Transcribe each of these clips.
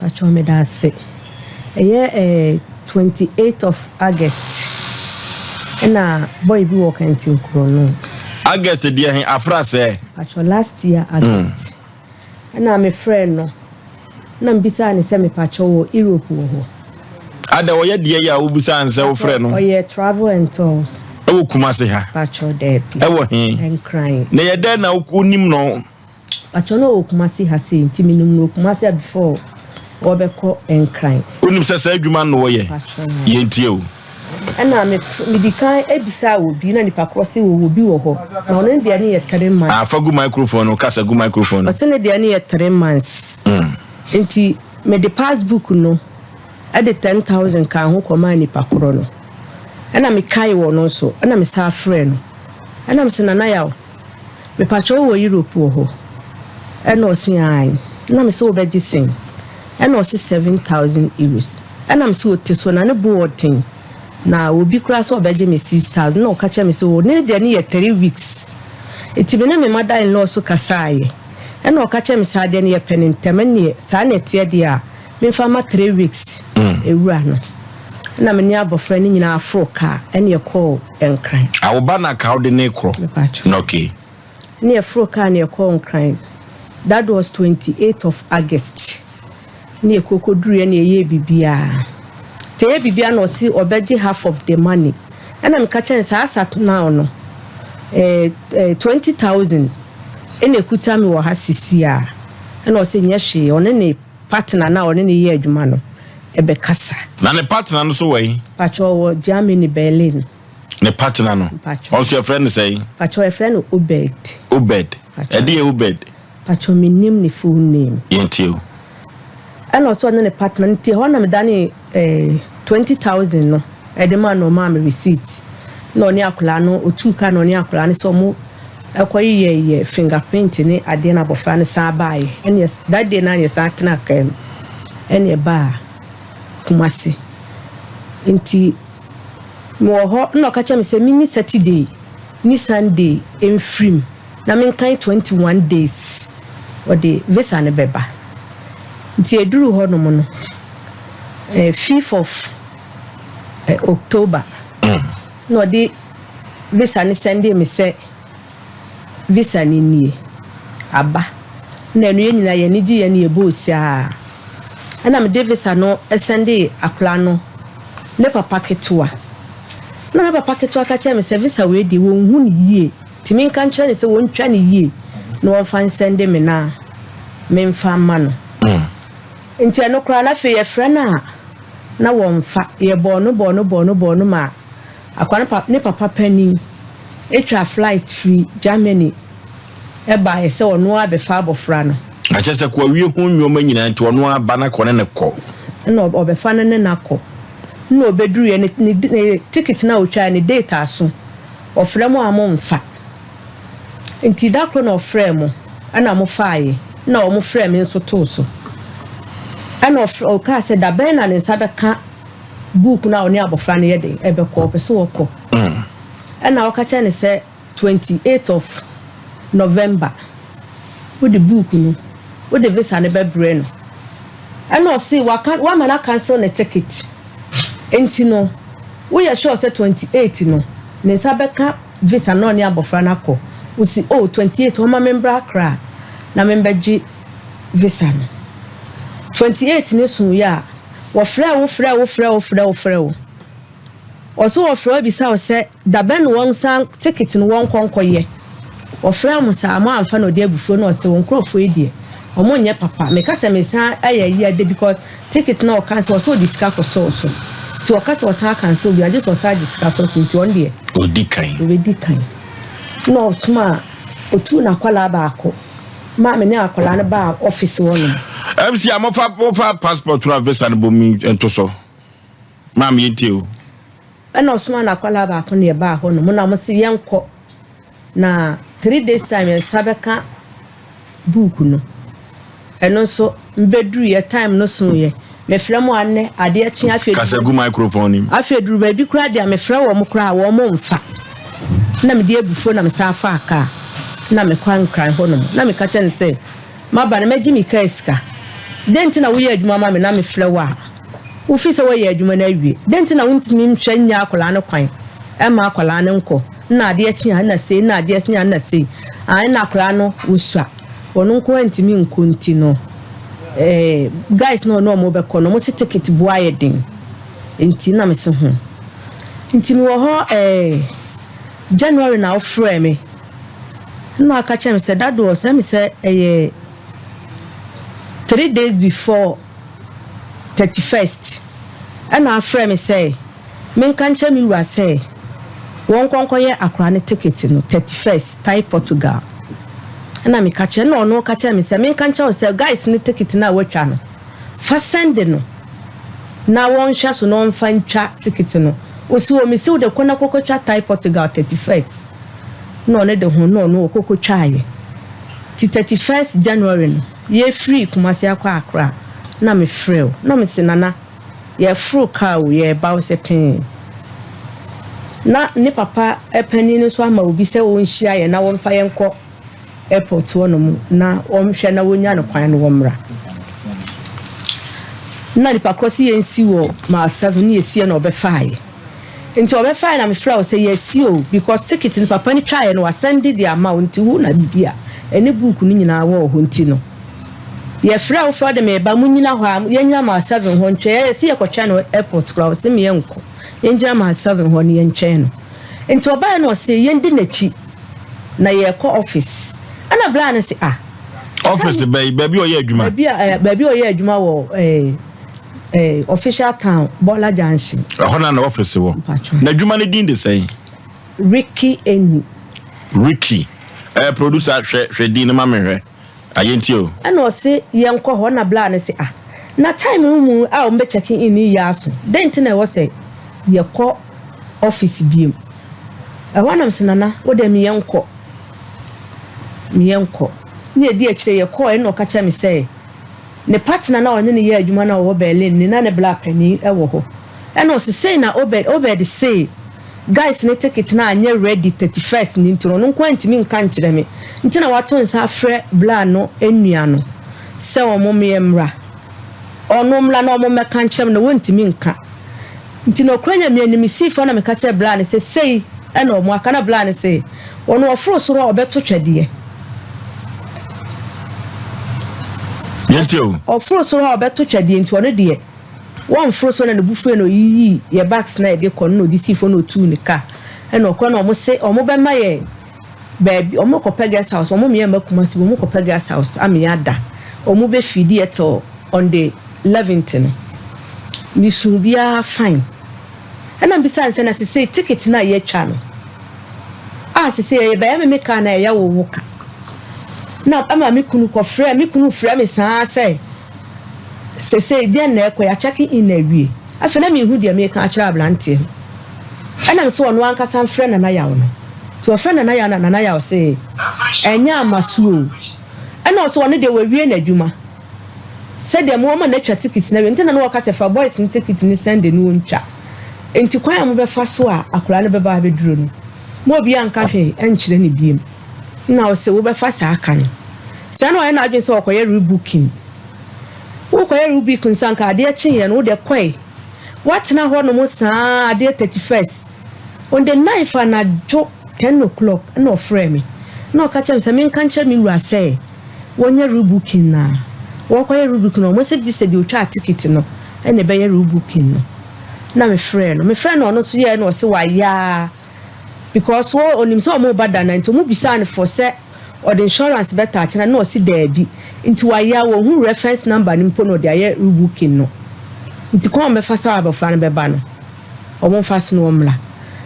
Pakyɛw meda ase. Ɛyɛ eh twenty eight of August ɛna boy bi wɔ Kantin kuro no. August deɛ he afra sɛɛ. Pakyɛw last year August ɛna me frɛɛ no na me bisaa no sɛ me pakyɛw wɔ Europe wɔ hɔ. Ada ɔyɛ deɛ yi a wo bisaa no sɛ wo frɛ no. Ɔyɛ travel and tours. Ɛwɔ Kumasi ha. Pakyɛw daabi. Ɛwɔ he. Nkran. Na yɛ dɛn na wo nim no. Pakyɛw na ɔwɔ Kumasi ha sei nti menim no wɔ Kumasi a before wɔbɛkɔ Nkran. Wonim sɛ saa adwuma no na wɔyɛ? Yɛntie o. Ɛna me medi kan bisaa wɔ bi na nipa korɔ se wɔwɔ bi wɔ hɔ na ɔno ne deɛ ne yɛ three months. Ah fa gu microphone no kasa gu microphone no. Ɔse ne deɛ ne yɛ three months nti mede pass book no ɛde ten thousand kaa ho kɔ maa nipa korɔ no ɛna me kae wɔ no nso ɛna me saa frɛ no ɛna me se Nana Yaw. Mepakyɛ wo wɔ Europe wɔ hɔ? Ɛna ɔse aane, ɛna mese wobɛgye sɛn? Ɛna ɔse seven thousand euros, ɛna mese ote so, na ne bo wɔ den, na obi koraa sɛ ɔbɛgye me six thousand, ɛna ɔka kyerɛ me sɛ oo ne deɛ ne yɛ three weeks, nti me ne me mother in law nso kasaeɛ, ɛna ɔka kyerɛ me sɛ adeɛ no yɛpɛ no ntɛm, ɛneɛ saa na ɛteɛ deɛ a, Memfa ma three weeks ewura no na me ne abɔfra no nyinaa foro kaa ɛne ɛkɔɔ Nkran. A wo ba no aka wode ne korɔ? Mepatwo. Na okay. Ne yɛforo kaa ne yɛkɔɔ Nkran. That was twenty eight of August. Ne yɛkɔ kɔduruiɛ ne yɛyɛɛ biribiara. Nti yɛyɛ biribiara na ɔse ɔbɛgye half of the money. Ɛna meka kyerɛɛ no saa sat now no eh, eh, twenty thousand ɛna ɛkuta me wɔ ha sisi a. Ɛna ɔse nyɛ hwee, ɔne ne Partner no a ɔne no yɛ adwuma no bɛkasa. Na ne partner no nso wɔ he? Mpakyɛ ɔwɔ Germany, Berlin. Ne partner no? Mpakyɛ. Ɔno nso yɛfrɛ no sɛn? Mpakyɛ yɛfrɛ no Obed. Obed. Mpakyɛ. Ɛdeɛ yɛ Obed? Mpakyɛ mennim ne full name. Yɛntie o. Ɛna ɔse ɔne ne partner no te hɔ na medanee. Eh twenty thousand no ɛde ma no ɔmaa me receipt na ɔne akwadaa no otuu ka na ɔne akwadaa no sɛ ɔmo ɛkɔ yeyɛ yɛ finger print ne adeɛ na abɔfra no san baayɛ ɛne that day na yɛ san tena kaa mu ɛne ɛbaa Kumasi nti mewɔ hɔ na ɔka kyerɛ me sɛ mini Saturday ni Sunday mfirim. Na menkan twenty one days wɔde visa no bɛba nti ɛduruu hɔ nom no fifth of October na ɔde visa no sɛndee me sɛ visa no nie aba na ɛno yɛn nyinaa yɛn ani gyeeɛ na yɛbɔɔ ose ara ɛna mede visa no sɛndee akwadaa no ne papa ketewa na ne papa ketewa ka kyerɛɛ me sɛ visa wei deɛ wɔnhu no yie. Tumi nka nkyerɛ no sɛ wɔntwa no yie na wɔmfa nsɛnde me na memfa mma no. Nti ɛno koraa na afei yɛfrɛ no a na wɔmfa. Yɛbɔɔ no bɔɔ no bɔɔ no bɔɔ no maa akwa no pa, ne papa panin twa flight firi Germany baeɛ sɛ ɔno ara bɛfa abɔfra no. Akyɛ sɛ koawie ho nneɛma nyinaa nti ɔno ara ba na kɔ ne ne kɔ. Ɛna ɔbɛfa no ne no akɔ. Ɛna ɔbɛduruiɛ ne, ne, ne tikiti no a ɔtwaeɛ ne date aso. Ɔfrɛ mo a momfa. Nti da koro na ɔfrɛɛ mo ɛna mo faaeɛ, ɛna wɔn frɛɛ me nso too so. Ɛna ɔfrɛ ɔkaa sɛ da bɛn na ne nsa bɛka book no a ɔne abɔfra no yɛ de ɛbɛkɔ ɔpɛ sɛ ɔkɔ. Ɛna ɔka kyerɛ ne sɛ twenty eight of November wode book no. wode visa no bɛbrɛ no ɛna ɔse waka wama no acancel ne ticket nti no woyɛ sure sɛ twenty eight no ne nsa bɛka visa na ɔne abɔfra no akɔ wosi oh twenty eight ɔma me mbra akra na me mbɛgye visa no twenty eight ne so yɛ a wɔfrɛ wo frɛ wo frɛ wo frɛ wo frɛ wo ɔso wɔfrɛ wo bisa wo sɛ Dabɛn wɔn saa ticket no wɔnkɔ nkɔ yɛ wɔfrɛ wɔn saa wɔn anfa na ɔde agu fo na ɔsɛ wɔn nkorɔfoɔ yi deɛ wɔn nyɛ papa meka sɛ mesan ayɛ ayi adɛ because ticket na ɔka sɛ ɔsɛ ɔde sika kɔ sɔɔ so nti ɔka sɛ ɔsan akansel bia gye sɛ ɔsan agye sika sɔɔ so nti ɔn deɛ ɔdi kan ɔbɛdi kan na ɔsoma a ɔtuu na akwadaa baako maa me ne akwadaa no baa office hɔ nom. MC a mofa mofa passport na visa no bom ntoso. Maa me yɛntie o. Ɛna ɔsomaa n'akwadaa baako na yɛbaa hɔ nom na mose yɛnkɔ na three days time yɛn nsa bɛka book no ɛno nso mbɛduru yɛ time no so yɛ mefrɛ mo anɛ adeɛ kye afei kasa gu microphone nim afei duru baabi koraa deɛ mefrɛ wɔn mo koraa wɔn mo mfa na mede abufuo na mesan faa kaa na mekɔ nkran hɔ nom na meka kyɛ no sɛ M'aba no, mɛgye me kaa sika. Dɛn nti na woyɛ adwuma ma me na mefrɛ wo a, wufi sɛ woayɛ adwuma no awie? Dɛn nti na wuntumi nhwɛ nnya akwadaa no kwan mma akwadaa no nkɔ? Nna adeɛ kye a, nna sei, nna adeɛ sen a, nna sei. Aane, na akwadaa no wosua. Ɔno nko ara ntumi nkɔ nti no, eh, guys no a ɔne wɔn bɛkɔ no, wɔse ticket boɔ ayɛ den. Enti nna mese ho. Nti mewɔ hɔ eh, January na wofrɛɛ me. Nna ɔaka kyerɛ me sɛ, Daddo, ɔsɛ me sɛ ɛyɛ three days before thirty first. Nna ɔafrɛ me sɛ menka nkyerɛ me wura sɛ wɔnkɔ nkɔyɛ akora no ticket no thirty first Thai Portugal. Nna meka kyerɛ no, nna ɔno ɔka kyerɛ me sɛ menka nkyerɛ wo sɛ guys no ticket no a wɔatwa no, fa sɛnde no na wɔnhwɛ so na wɔmfa ntwa ticket no. Ose, oh, mese wo de kɔ na kɔkɔtwa Thai Portugal thirty first. na ɔno de ho na ɔno ɔkɔkɔtwaaeɛ. Nti thirty first January no, yɛfirii Kumasi akɔ Accra na mefrɛɛ wo na mese Nana yɛforo kaa o, yɛreba wo sɛ pɛn. Na ne papa panin no nso ama obi sɛ ɔnhyia yɛn na wɔmfa yɛn nkɔ airport hɔnom na wɔnhwɛ na wɔnya no kwan na wɔmmra. Na nipa korɔ se yɛnsi wɔ mile seven na yɛsiiɛ na ɔbɛfaaeɛ. Nti wɔbɛfae na mefrɛ wo sɛ yɛasi o because ticket no papa no twaeɛ no wasɛnde de ama wo nti wo na biribi a ɛne book no nyinaa wɔ hɔ nti no yɛfrɛ wo frɛ wo de meba monyina hɔ a yɛnyina mile seven hɔ ntwɛn yɛsi yɛkɔtwɛn no airport koraa ɔse me yɛnkɔ yɛngyina mile seven hɔ no yɛntwɛn no nti ɔbaeɛ no ɔse yɛndi n'akyi na yɛkɔ office ɛna blaa no se ah Office bɛyi baabi a ɔyɛ adwuma. baabi a eh, baabi a ɔyɛ adwuma wɔ eh, Eh, official town Bola Junction. Ɛhɔ na na ɔfisi wɔ. N'adwuma ne din de sɛn? Ricky Eni. Ricky. Eh, producer hwɛ hwɛ din no ma me hwɛ. Ayɛ nti o. Ɛna ɔse yɛn kɔ hɔ na bla no se ah na time no mu a wɔn bɛ check in yi aso dɛn ti na ɛwɔ sɛ yɛkɔ office biem. Ɛhɔ na mese nana wo deɛ meyɛ nkɔ meyɛ nkɔ. Ne ɛdi akyire yɛkɔɔ ɛna ɔka kyerɛ me sɛ. Ne partner no a ɔne no yɛ adwuma no a ɔwɔ Berlin no, na ne bra panin wɔ hɔ. Ɛna ɔse sei na Obed, Obed se, Guys no ticket no anyɛ ready thirty first no nti no, ɔno nkoaa ntumi nka nkyerɛ me, nti na wato nsa afrɛ bra no nua no sɛ wɔn mmra, wɔn mmra na wɔn mmɛka nkyerɛ me na wɔntumi nka. Nti na ɔkura Nyame anim si fa na meka kyerɛ bla no sɛ sei na ɔmo aka na bla no se ɔno ɔforo soro a ɔbɛto twɛdeɛ ɔforo soro a ɔbɛto twɛdeɛ nti ɔno deɛ wɔnforo soro na ne bufue na ɔyiyii yɛ bags na yɛde kɔ no na ɔde sii fɔ na ɔtuu ne car ɛna ɔkɔ na ɔmo se ɔmo bɛma yɛ Baabi, ɔmo kɔ pɛ guest house, ɔmo meyɛ mma Kumasi, ɔmo kɔ pɛ guest house ameyɛ ada, ɔmo bɛ feedi yɛ till on the eleventh no, me suu biaa fine, ɛna mbisaa no sɛ na sesei ticket no a yɛatwa no a sesei ɛyɛ bɛyɛ me me ka anaa ɛyɛ wo wo ka, na ɛma me kunu kɔ frɛ, me kunu frɛ me saa sɛ. Seesei deɛn na ɛrekɔ yi? Akyɛke in no awie. Afei na menhu deɛ mereka akyerɛ aberanteɛ no. Ɛnam sɛ ɔno ankasa mfrɛ Nana Yaw no. Nti ɔfrɛ Nana Yaw na Nana Yaw se, Ɛnyɛ ama so o. Ɛna ɔse ɔno deɛ wawie n'adwuma. Sɛdeɛ mo wɔma no atwa tikiti no awie. Nti na na ɔreka sɛ fa boys no tikiti no Sunday na ɔntwa. Nti kwan a mobɛfa so a akwadaa no bɛba abɛduro no, ma obiara nka hwee nkyerɛ no biom. na ɔse wobɛfa saa ka no saa na wayɛ n'adwene sɛ ɔkɔyɛ rebooking wokɔyɛ rebooking nsa nka adeɛ kyeeɛ no wode kɔe woatena hɔ nom saa adeɛ 31st on the 9th anadwo 10 o'clock na ɔfrɛ me na ɔka kyerɛ me sɛ menka nkyerɛ me wura sɛ wɔnyɛ rebooking na wɔkɔyɛ rebooking no ɔmo sɛ gye sɛ deɛ ɔtwaa ticket no ɛna ɛbɛyɛ rebooking no na mefrɛ no mefrɛ no ɔno nso yɛɛ na ɔse wayɛ a because wɔ onim sɛ ɔmo ba da na nti ɔmo bisaa no fɔ sɛ ɔde insurance bɛ taakye na na ɔse daabi nti wayea wɔ hu reference number no mpo na ɔde ayɛ rebooking no nti kwan a ɔmo bɛ fa sa abɔfra no bɛ ba no ɔmo nfa so na ɔmo mra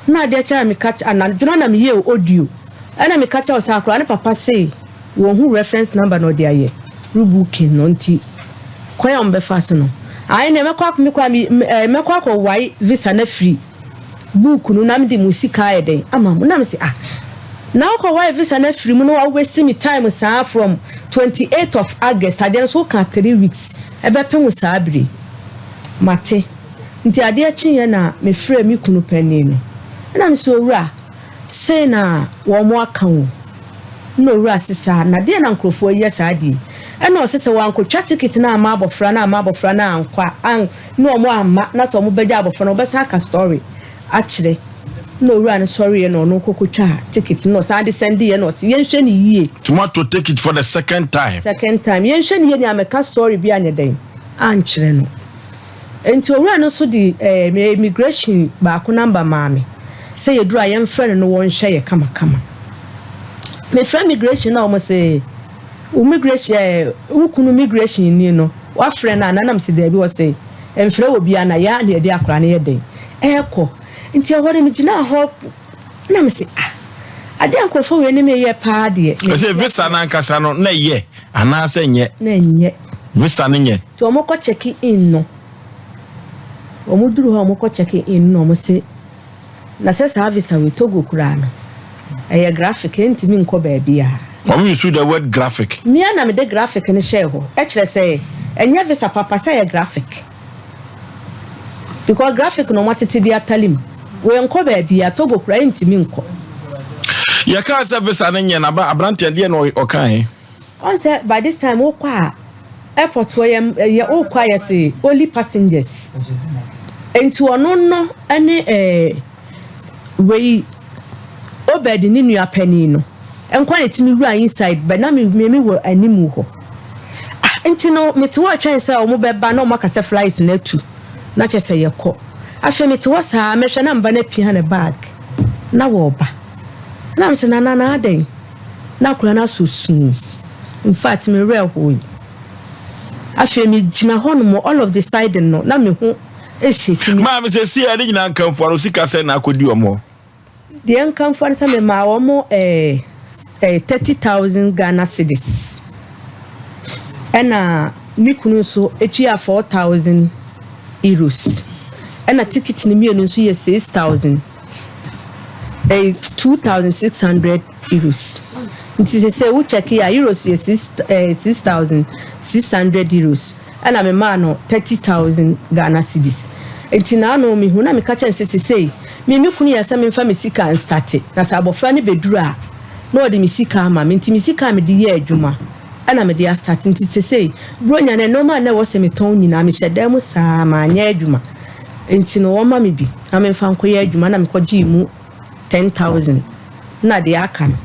na adeɛ kyɛ na me ka ana dwona na me yɛ o audio ɛna me ka kyɛ ɔsa akora ne papa se wɔ hu reference number na ɔde ayɛ rebooking no nti kwan a ɔmo bɛ fa so no ayi na mɛkɔ akɔ mɛkɔ akɔ wae visa na free book no na mede mo sika ayɛ dɛn ama mo na me se ah na wokɔ wae visa no afiri mu na wa waste me time saa from twenty eight of August adeɛ no so wokaa three weeks ɛbɛpem wo saa bere yi mate nti adeɛ kyeeɛ na me frɛɛ me kunu panin no ɛna me se owura Sei na wɔaka o, nna owura se saa, na deɛn na nkurɔfoɔ yi yɛ saa deɛ yi? Ɛna ɔse sɛ wɔankɔtwa ticket no amma abɔfra no amma abɔfra no ankɔ a, an, ne wɔn amma, na sɛ wɔbɛgya abɔfra no, wɔbɛsan aka story akyerɛ. Ɛna owura no sɔreeɛ na ɔno kɔkɔtwaa ticket no, na ɔsan de sɛndeeɛ, ɛna ɔse yɛnhwɛ no yie. Nti moato ticket for the second time? Second time, yɛnhwɛ no yie, nea meka story bi anyɛ dɛn ankyerɛ no. Enti owura no nso de me immigration baako number maa me sɛ yɛduru a yɛmfrɛ no na wɔnhwɛ yɛ kamakama. Mefrɛ immigration na wɔn se wo immigration eh, wo kunu immigration ni no wafrɛ no anaa na mese daabi wɔ se mfrɛ obiara na yɛa na yɛde akwadaa no yɛ dɛn ɛɛkɔ nti ɛhɔ no megyinaa hɔ na mese ah ade a nkurɔfoɔ wei ne meyɛ paa deɛ ɛsɛ visa no ankasa no na ɛyɛ anaasɛ nyɛ na ɛnyɛ visa no nyɛ nti wɔkɔ check in no wɔn duru hɔ wɔkɔ check in no na wɔn se na sɛ saa visa wei togo koraa no ɛyɛ graphic ɛntumi nkɔ baabi a wɔn use the word graphic mmea na mede graphic no hyɛɛ hɔ ɛkyerɛ sɛ ɛnyɛ visa papa sɛ ɛyɛ graphic Because graphic no wɔatete de atare mu. Wei nkɔ baabiara, Togo koraa ɛntumi nkɔ. Yɛkaa sɛ visa no nyɛ na aberanteɛ no deɛ na ɔkae. Ɔn sɛ by this time wokɔ a airport hɔ yɛ yɛ wokɔ a yɛse only passengers nti ɔno no ne ɛɛ. wei Obed ne nua panin no nkwa na ɛtumi wura inside but na mmiemi wɔ animu hɔ ah nti no mete hɔ twɛn sɛ wɔn bɛba na wɔn aka sɛ flight na atu na kyɛ sɛ yɛkɔ afei mete hɔ saa mɛhwɛ na mba na pia ne bag na wɔba na mesɛ na na na adɛn na akora no asɔ suu in fact me werɛ hoo yi afei megyina hɔ nom all of the sudden no na mehu Maa me sɛ siɛ, ne nyinaa nkamfo ara, ɔsi ka sɛ na akɔdi wɔn hɔ. Deɛ nkamfo ara sɛ memaa wɔn ɛɛ ɛɛ thirty thousand Ghana cedis. Ɛna me kunu nso tua four thousand euros. Ɛna tikiti no mmienu nso yɛ six thousand ɛɛ two thousand six hundred euros. Nti sɛ sɛ wo kyɛke a euros yɛ six ɛɛ six thousand six hundred euros. Ɛna me maa no thirty thousand Ghana cedis nti na ano me hu na me ka kyerɛ no sɛ sesei me ne me kunu yɛ sɛ me nfa me sika nstate na sɛ abɔfra no bɛduru a na ɔde me sika ama me nti me sika a me de yɛ adwuma ɛna me de astate nti sesei bronya no nnoɔma a na ɛwɔ sɛ me tɔn nyinaa me hyɛ dan mu saa ma nyɛ adwuma nti no wɔma me bi na me nfa nkɔ yɛ adwuma na me kɔ gyee mu ten thousand na deɛ aka no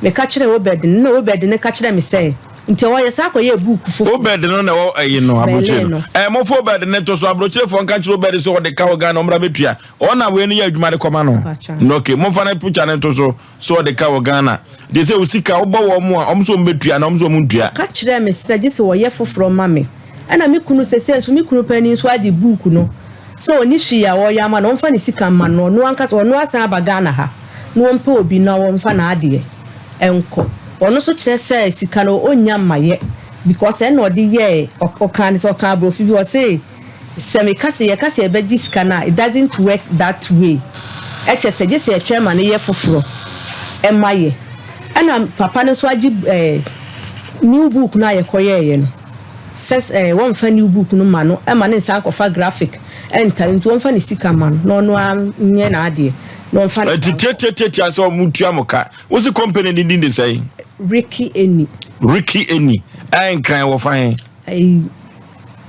me ka kyerɛ Obed no na Obed no ka kyerɛ me sɛ. Nti ɔyɛ saa kɔyɛɛ book foforɔ. Obed no na ɛwɔ ɛyi no aburokyire no. Ɛɛ mo fo Obed ne to so aburokyirefoɔ nka kyerɛ Obed sɛ ɔde ka wɔ Ghana ɔmra bɛtua. Ɔn na wei no yɛ adwuma de kɔma no. No okay mo fa no picture no to so sɛ ɔde ka wɔ Ghana. Gye sɛ wo sika wobɔ wɔn mo a ɔmo sɛ ɔmo bɛtua anaa ɔmo sɛ ɔmo ntua. Ɔka kyerɛɛ me sɛ gye sɛ ɔyɛ foforɔ ma me. Ɛna me kunu sɛsɛ nso me kunu panin nso agye book no. Sɛ ɔnni hwee a ɔreyɛ ama no a, ɔmfa ne sika mma no, ɔno ankasa, ɔno asan aba Ghana ha na ɔmpɛ obi na ɔmfa n'adeɛ nkɔ. Ɔno nso kyerɛ sɛ sika no ɔnnya mmayɛ because ɛna ɔde yɛɛ, ɔkaa ne sɛ, ɔkaa aborɔfo bi, ɔse sɛ meka sɛ, yɛka sɛ yɛbɛgye sika no a, it doesn't work that way, ɛkyɛ sɛ gye sɛ yɛtwɛn ma no yɛ foforɔ ma yɛ. Ɛna papa no nso agye ɛɛ new book no a yɛkɔyɛeɛ no. sɛ wɔmfa new book no ma no ma no nsan nkɔfa graphic ntare nti wɔmfa ne sika ma no na ɔno ara nyɛ n'adeɛ na ɔmfa ne Ɛti tiatiatiati a sɛ ɔmo tua mo ka. Wosi company ne din de sɛn? Ricky Eni. Ricky Eni. Ɛɛ Nkran wɔ fa he? Ɛyi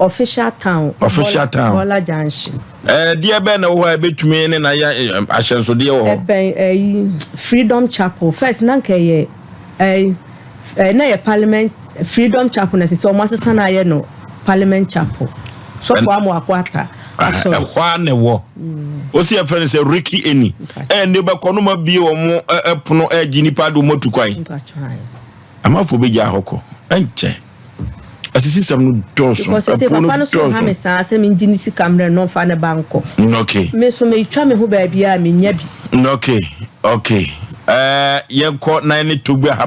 Official Town. Official Town. Bɔla Junction. Ɛɛ deɛ bɛn na wɔ hɔ a ebetumi ne na yɛ ahyɛnsodeɛ wɔ hɔ? Ɛbɛn ɛyi Freedom Chapel. First na nka ɛyɛ. Ɛɛ ɛɛ na yɛ parliament freedom chapel na sisi ɔmo asesa na ayɛ no parliament chapel sɔfo amoako ata asɔre. Ɛhɔ a na ɛwɔ osi ɛfɛ no sɛ ricky eni ɛɛ ne bɛ kɔ no ma bie ɔmo ɛpono ɛɛ gye nipa de ɔmo atu kwan amafo bɛ gya ahɔ kɔ ɛnkyɛ. asisisɛm no dɔɔso because ɛsɛ ɛpo no papa no so ha me dɔɔso saa sɛ mengye ne sika mmerɛ no mfa ne ba nkɔ Mm, okay me so metwa me ho baabiaa menya bi Mm, okay okay ɛɛ yɛnkɔ na yɛne togbe ha